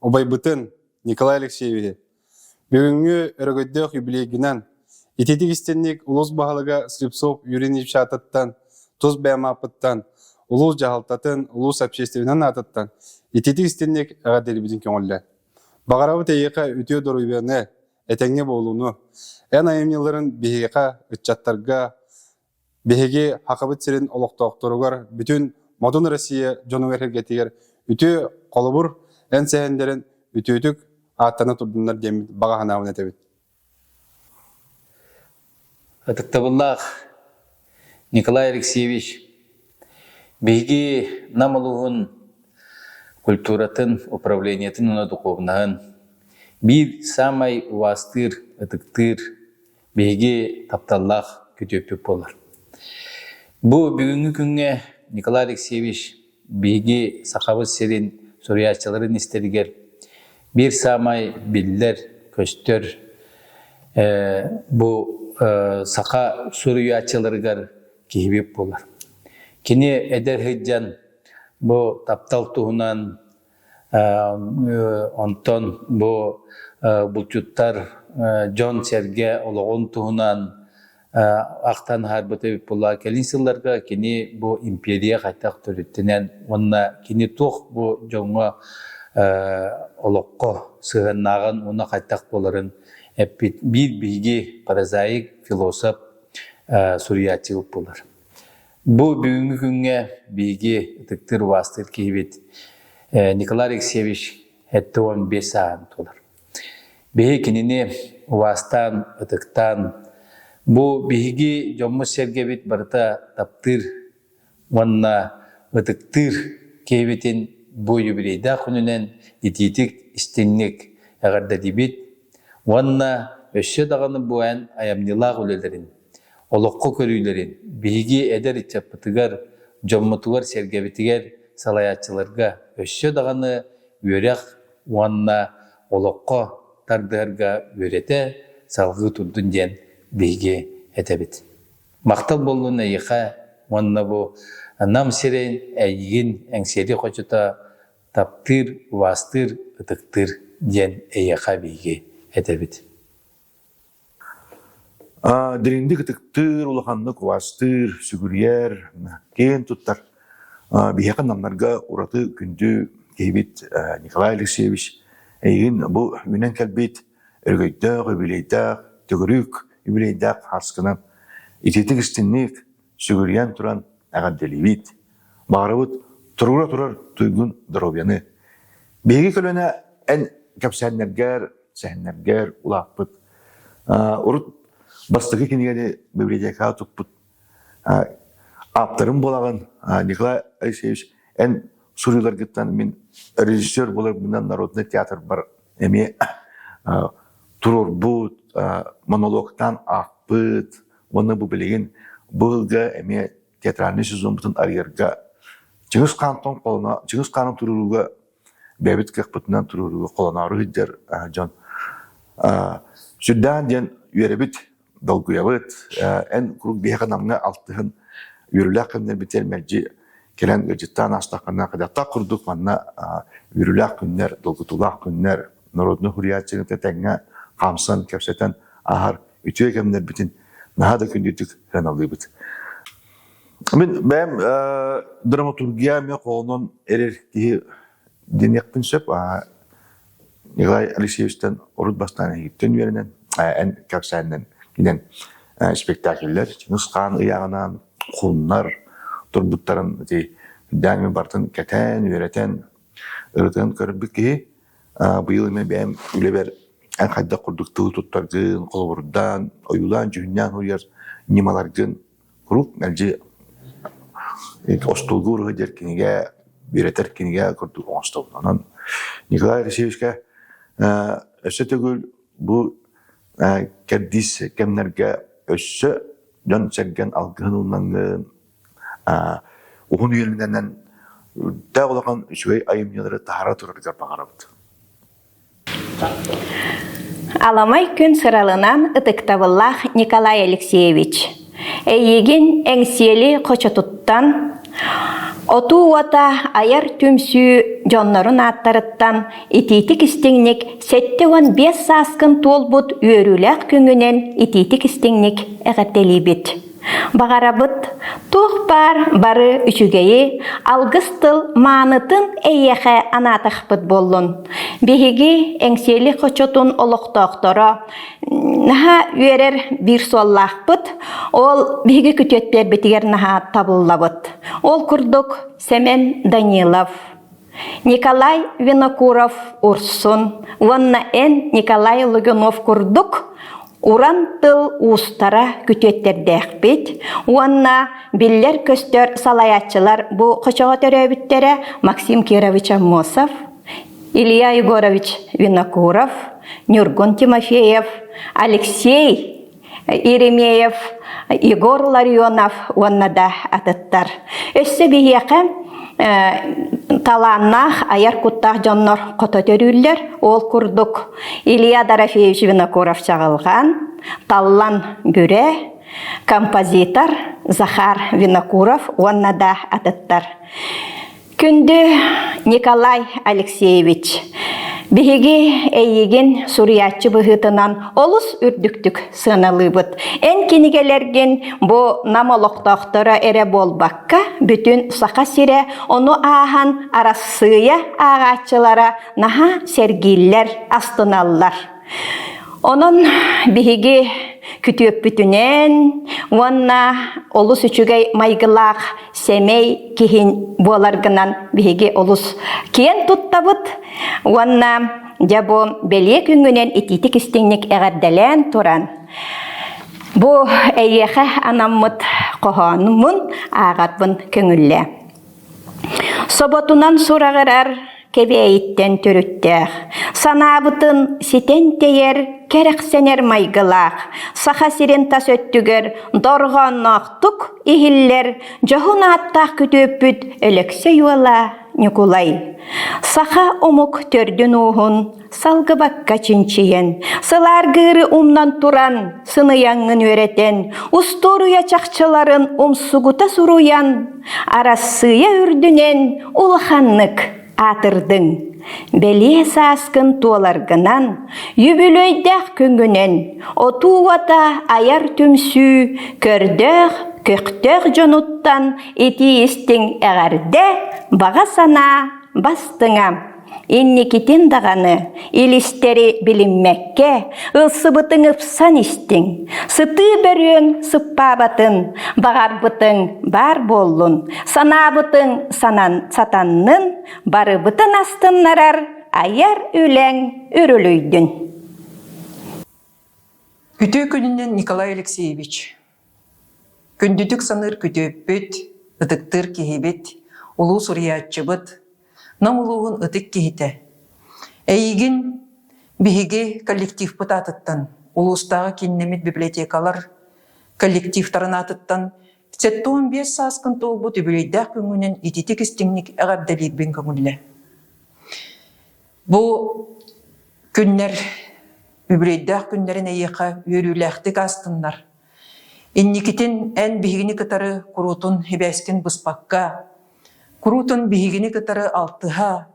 Убайбытын Николай Алексеевиһы бүгүҥҥү өрөгөйдөөх юбилейгынан ититик истинник улус баһылыга Слепцов Юрий Ильич аатыттан, тус бэйэм ааппыттан, улус дьаһалтатын, улус общественнан аатыттан ититик истинник эҕэрдэлибитин көҥүллэн. Баҕарабыт эйиэхэ үтүө доруйуону, этэҥҥэ буолууну, эн айымньыларын биһиэхэ, ыччаттарга, Биһиги Сахабыт сирин олохтоохторугар бүтүн модун Россия дьонугар эһэргэтигэр үтүө холобур эн сэһэннэрин үтүөтүк ааттана турдуннар диэммит баҕа санаабын этэбит Ытыктабыллаах Николай Алексеевич, биһиги Нам улууһун культуратын управлениетын уонна духуобунаһын биир саамай убаастыыр, ытыктыыр биһиги тапталлаах күтүөппүт буолар. Бу бүгүҥҥү күҥҥэ Николай Алексеевич биһиги Сахабыт сирин суруйааччыларын истэригэр биир саамай биллэр, көстөр бу саха суруйааччыларыгар киһибит буолар. Кини эдэр сыдьан бу таптал туһунан Онтон бу булчуттар дьон-сэргэ олоҕун туһунан ахтан аһарбыт эбит буолла кэлин сылларга кини бу империя хайдах төрүттэнэн уонна кини туох бу дьоҥҥо олоххо сыһыаннааҕын уонна хайдах буоларын эппит биир биһиги прозаик философ суруйааччы буолар Бу бүгүҥҥү күҥҥэ биһиги ытыктыыр убаастыыр киһибит Николай Алексеевич эттэ уон биэс сааһын туолар. Биһи кинини убаастаан, ытыктаан, бу биһиги дьоммут-сэргэбит барыта таптыыр уонна ытыктыыр киһибитин бу юбилейдаах күнүнэн итиитик, истиҥник эҕэрдэлиибит уонна өссө даҕаны бу эн айымньылаах үлэлэрин олоххо көрүүлэрин, биһиги эдэр ыччаппытыгар, дьоммутугар-сэргэбитигэр, салайааччыларга өссө даҕаны үөрэх уонна олоххо тардыһарга үөрэтэ, салҕыы турдун диэн биһиги этэбит. Махтал буоллун эйиэхэ уонна бу Нам сирин эйигин эҥсиэли хочута таптыыр, убаастыыр, ытыктыыр диэн эйиэхэ биһиги этэбит. Дириҥник ытыктыыр, улаханнык убаастыыр, сүгүрүйэр, киэн туттар биһиэхэ намнарга ураты күндү киһибит Николай Алексеевич эйигин бу үүнэн кэлбит өрөгөйдөөх, үбүлүөйдээх, төгүрүк үбүлүөйдээх ааскынан итиитик истинник сүгүрүйэн туран эҕэрдэлиибит, баҕарабыт турура турар туйгун доруобуйаны. Биһиги көлөнө эн кэпсээннэргэр, сэһэннэргэр улааппыт урут бастакы кинигэни библиотекаҕа туппут ааптарым буолаҕын Николай Алексеевич эн суруйууларгыттан мин режиссер боларбынан народный театрбар эмиэ туруорбут монологтаан аахпыт Уонна бу билигин бу ыылга эмиэ театральный сезонбутун арыйарга Чыгыс Хаантон холоно Чыгыс Хаанын туруорууга бэбит кыахпытынан туруорууга холоноору сылдьар дьон сүрдээн диэн үөрэбит долгуйабыт эн куруук биһиэхэ намҥа алтыһын үөрүүлээх күннэрбитигэр мэлдьи кэлэн ыалдьыттаан аастаххына хадаттах курдук манна үөрүүлээх күннэр долгутуулаах күннэр народнай суруйааччыны тэҥҥэ хамсан, кэпсэтэн аһар үтүө кэмнэрбитин наһаа да күндүтүк сыаналыыбыт. Мин бэйэм драматургия эмиэ хоонон эрэр киһи диниэхпин сөп. Николай Алексеевичтэн урут бастаан иһиттэн үөрэнэн, эн кэпсээннэн киинэн спектакльлэр нұсқаан ыйағынан құннар тұрбуттарын даами бартын кәтән үөрэтен ырытын көрбүт киһи Быйыл эмэ бэйэм үлэбэр эн хайдах курдук тылы туттаргын, холобурдаан, ойуулаан-дьүһүннээн суруйар ньымаларгын куруук мэлдьи остуолга ууруһа диэр кинигэ, үөрэтэр кинигэ курдук оҥостобун. Онон Николай Алексеевичка өссө төгүл бу кэрдиис кэмнэргэ өссө дьон-сэргэн алгыһын ыллаҥҥын, уһун үөлүнэнэн үрдээх улахан үчүгэй айымньылары таһара турарыгар баҕарабыт. Аламай күн сыралынан ытыктабыллаах Николай Алексеевич. Эйигин эҥсиэли хочотуттан, отуу уота айар түмсүү дьоннорун ааттарыттан итиитик истиҥник сэттэ уон биэс сааскын туолбут үөрүүлээх күҥүнэн итиитик истиҥник эҕэрдэлиибит. Баҕарабыт туох баар бары үчүгэйи, алгыс тыл маанытын эйиэхэ анаатахпыт буоллун. Биһиги эҥсиэли хочотун олохтоохторо наһаа үөрэр биир суоллаахпыт, ол биһиги күтүөтпэрбитигэр наһаа табыллабыт. Ол курдук Сэмэн Данилов Николай Винокуров-Урсун уонна эн Николай Лугинов курдук уран тыл уустара күтүөттэрдээхпит уонна биллэр-көстөр салайааччылар бу хочоҕо төрөөбүттэрэ Максим Кирович Аммосов, Илья Егорович Винокуров, Ньургун Тимофеев, Алексей Иеремеев Егор Ларионов уонна да атыттар. Өссө биһиэхэ талааннаах айар куттаах дьоннор хото төрүүллэр. Ол курдук Илья Дорофеевич Винокуров Чаҕылҕан, Таллан Бүрэ, композитор Захар Винокуров уонна да атыттар. Күндү Николай Алексеевич, биһиги эйигин суруйааччы быһыытынан олус үрдүктүк сыаналыыбыт. Эн кинигэлэргин бу Нам олохтоохторо эрэ буолбакка, бүтүн Саха сирэ ону ааһан Арассыыйа ааҕааччылара наһаа сэргииллэр, астыналлар. Онон биһиги күтүөппүтүнэн уонна олус үчүгэй майгылаах сэмэй киһин буоларгынан биһиги олус киэн туттабыт уонна дьэ бу бэлиэ күнгүнэн итиитик-истиҥник эҕэрдэлээн туран бу эйиэхэ анаммыт хоһоонумун ааҕарбын көҥүллээн Соботунан сураҕырар Кэбээйиттэн төрүттээх, санаабытын ситэн тэйэр, кэрэхсэнэр майгылаах Саха сирин тас өттүгэр дорҕоонноохтук иһиллэр дьоһун ааттаах күтүөппүт Өлөксөй уола Ньукулай, саха омук төрдүн-ууһун Салгыбакка чинчийэн, сылааргыыры умнан туран, сыныйаҥҥын үөрэтэн, устуоруйа чахчыларын умсугута суруйан, Арассыыйа үрдүнэн улаханнык аатырдыҥ. Бэлиэ сааскын туоларгынан, үбүлүөйдээх күҥҥүнэн отуу уота айар түмсүү көрдөөх-көхтөөх дьонуттан итии истиҥ эҕэрдэ, баҕа санаа бастыҥа! Инникитин даҕаны илистэри билиммэккэ ылсыбытыҥ ыпсан истиҥ, сытыы бөрүөҥ сыппаабатын, баҕарбытыҥ баар буоллун, санаабытыҥ санан сатаннын, барыбытын астыннарар айар үлэҥ үрүлүйдүн. Күтүө күнүнэн Николай Алексеевич, Күндүтүк саныыр күтүөппүт, ытыктыыр киһибит, улуу суруйааччыбыт, Нам улууһун ытык киһитэ. Эйигин, биһиги коллективпыт аатыттан, улуустааҕы кииннэмит библиотекалар коллективтарын аатыттан сэттэ уон биэс сааскын туолбут үбүлүөйдээх күҥҥүнэн ититик-истиҥник эҕэрдэлиирбин көҥүллэ. Бу күннэр үбүрүйдээх күннэрин эйиэхэ үөрүүлээхтик астыннар. Инникитин эн биһигини кытары куруутун хибээскин быспакка, куруутун биһигини кытары алтыһа,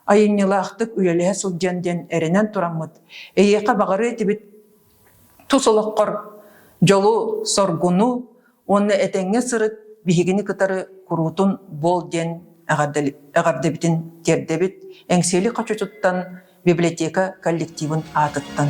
айымньылаахтык үлэлэһэ сылдьан диэн эрэнэн тураммыт, эйиэхэ баҕарыа этибит тус олоххор дьолу, соргуну уонна этэҥҥэ сырыт, биһигини кытары куруутун буол диэн эҕэрдэбитин тиэрдэбит Эҥсиэли хочучуттан библиотека коллективын аатыттан.